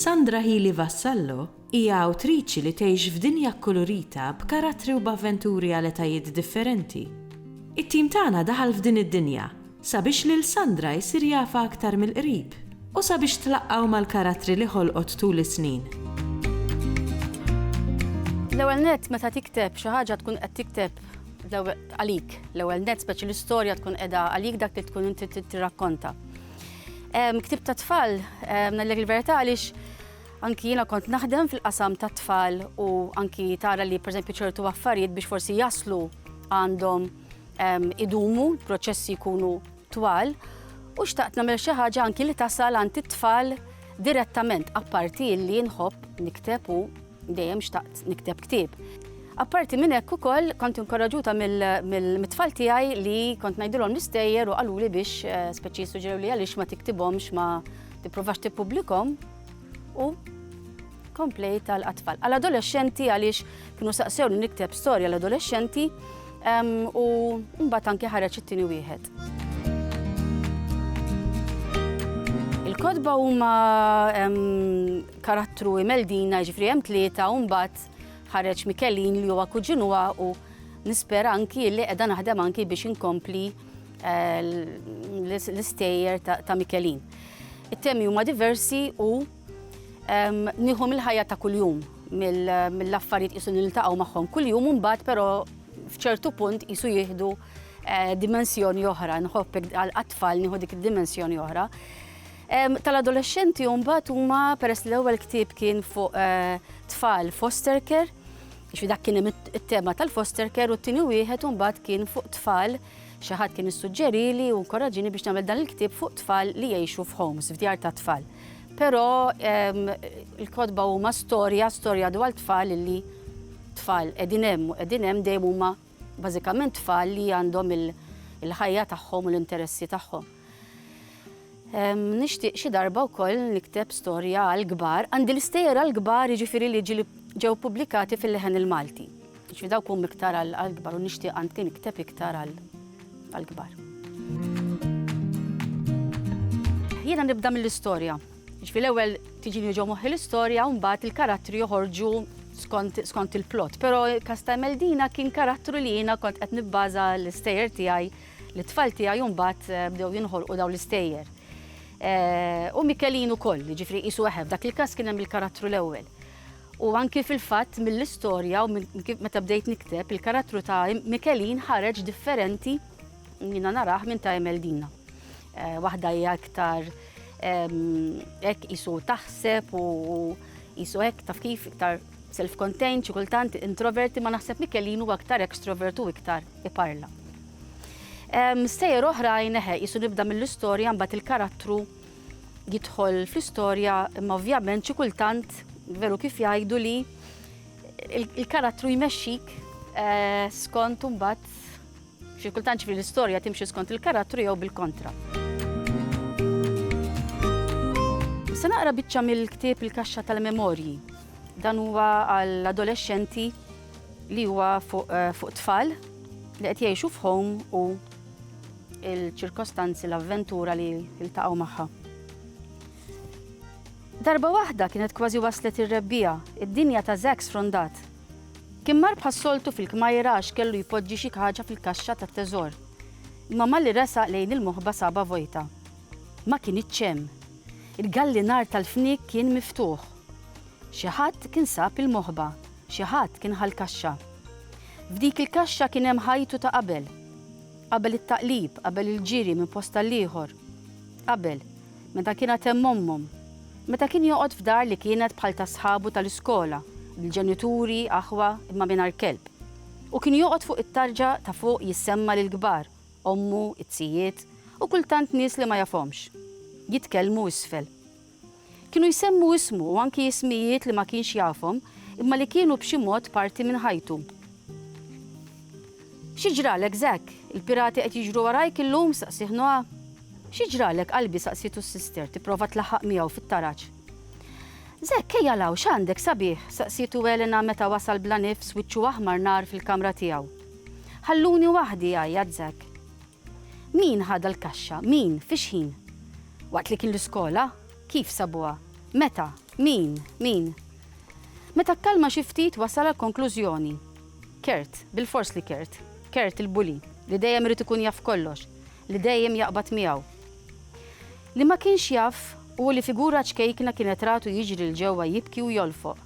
Sandra Healy Vassallo hija awtriċi li tgħix f'dinja kkulurita b'karattri u b'avventuri għal etajiet differenti. It-tim tagħna daħal f'din id-dinja sabiex lil Sandra jsir jafha aktar mill-qrib u sabiex tlaqqgħu mal-karattri li ħolqot tul is-snin. L-ewwel nett meta tikteb xi ħaġa tkun qed tikteb għalik. L-ewwel nett speċi l-istorja tkun qiegħda għalik dak li tkun inti tirrakkonta. Ktib ta' tfal, nallek il-verità għaliex anki jiena kont naħdem fil-qasam ta' tfal u anki tara li pereżempju ċertu affarijiet biex forsi jaslu għandhom idumu, proċessi jkunu twal, u xtaqt nagħmel xi ħaġa anki li tasal għand it-tfal direttament, apparti li nħobb nikteb u dejjem xtaqt nikteb ktieb. Apparti minn hekk ukoll kont inkoraġuta mill-tfal tiegħi li kont ngħidilhom l-istejjer u qaluli biex eh, speċi suġġerew li għaliex ma tiktibhomx ma tipprovax tippubblikhom u Komplejt għal atfal. Għal adolexxenti għaliex kienu saqsewni nikteb storja l adolexxenti u mbagħad anke ħareġ it-tieni wieħed. Il-kodba huma karattru imeldina ġifri hemm tlieta u mbagħad ħareġ Mikelin li huwa kuġin huwa u nispera anki li qiegħda naħdem anki biex inkompli eh, l-istejjer ta' Mikelin. It-temi huma diversi u Nieħu mill-ħajja ta' kuljum, mill-affarijiet qisu niltaqgħu magħhom kuljum u mbagħad però f'ċertu punt qisu jieħdu eh, dimensjoni oħra, nħobb għat-tfal nieħu dik id-dimensjoni oħra. Tal-adolescenti mbagħad huma peress l-ewwel ktieb kien fuq eh, tfal foster care, biex dak kien it-tema tal-foster care u t-tieni wieħed mbagħad kien fuq tfal Xi ħadd kien issuġġerieli u nkoraġġieni biex nagħmel dan il-ktieb fuq tfal li jgħixu f'homes, f'djar tat-tfal. Però l-kotba huma storja, storja dwar tfal li tfal qegħdin hemm u qegħdin hemm dejjem huma bażikament tfal li għandhom il-ħajja tagħhom u l-interessi tagħhom. Nixtieq xi darba wkoll nikteb storja għall-kbar, għandi l-istejjer għall-kbar jiġifieri li ġieli ġew pubblikati fil-leħen il-Malti. Jiġifieri dawk huma iktar għall-kbar u nixtieq anki nikteb iktar għall-kbar. Jiena nibda mill-istorja. Jiġifieri l-ewwel tiġini ġo moħħi l-istorja u mbagħad il-karattri joħorġu skont il-plot. Però il-każ ta' Emeldina kien karattru li jiena kont qed nibbaża l-istejjer tiegħi Lit-tfal tiegħi mbagħad bdew jinħolqu dawn l-istejjer. U Mikelin ukoll, jiġifieri qisu eħe, f'dak il-każ kien hemm il-karattru l-ewwel. U anki fil-fatt mill-istorja u meta bdejt nikteb, il-karattru ta' Mikelin ħareġ differenti jiena narah minn ta' Emeldina. Waħda hija iktar hekk qisu taħseb u qisu hekk taf kif iktar self-contained xi kultant introverti ma naħseb Mikelin huwa iktar extrovert u iktar iparla. Stejjer oħrajn eħe qisu nibda mill-istorja mbagħad il-karattru jidħol fl-istorja imma ovvjament xi kultant veru kif jgħidu li il-karattru jmexxik eh, skont mbagħad xi kultant ġifri l-istorja timxi skont il-karattru jew bil-kontra. Se naqra biċċa mill-ktieb il-kaxxa tal-memorji. Dan huwa għall-adolescenti li huwa fuq tfal li qed jgħixu f'home u l-ċirkostanzi l-avventura li ltaqgħu magħha. Darba waħda kienet kważi waslet ir-rebbija, id-dinja ta' Zack sfrondat. Kien mar bħas-soltu fil-kmajra għax kellu jpoġġi xi ħaġa fil-kaxxa tat-teżor. Imma malli resaq lejn il-moħba saba vojta. Ma kien iċċem. Il-gallinar tal-fniek kien miftuħ. Xi ħadd kien sab il-moħba. Xi ħadd kien ħa l-kaxxa. F'dik il-kaxxa kien hemm ħajtu ta' qabel. Qabel it-taqlib, qabel il-ġiri minn post għall-ieħor. Qabel, meta kien għad hemm ommhom. Meta kien joqgħod f'dar li kienet bħal ta' sħabu tal-iskola, bil-ġenituri, aħwa, imma mingħajr kelb. U kien joqgħod fuq it-tarġa ta' fuq jissemma' lill-kbar, ommu, it-tijiet, u kultant nies li ma jafhomx. Jitkellmu isfel. Kienu jsemmu ismu u anki ismijiet li ma kienx jafhom imma li kienu b'xi mod parti minn ħajtu. Xi ġralek, Zack? Il-pirati qed jiġru warajk illum? staqsieh Noah. Xi ġralek, qalbi? staqsietu s-sister, tipprova tlaħħaq miegħu fit-taraġ. Zack, ejja 'l hawn, x'għandek sabiħ? staqsietu Elena meta wasal bla nifs, wiċċu aħmar nar fil-kamra tiegħu. Ħalluni waħdi, għajjat Zack. Min ħadha l-kaxxa? Min? Fi x'ħin? Waqt li kien l-iskola? Kif sabuha? Meta? Min? Min? Meta kkalma xi ftit wasal għall-konklużjoni. Kurt, bilfors li Kurt. Kurt il-bully, li dejjem irid ikun jaf kollox, li dejjem jaqbad miegħu. Li ma kienx jaf hu li figura ċkejkna kienet ratu jiġri 'l ġewwa jibki u jolfoq.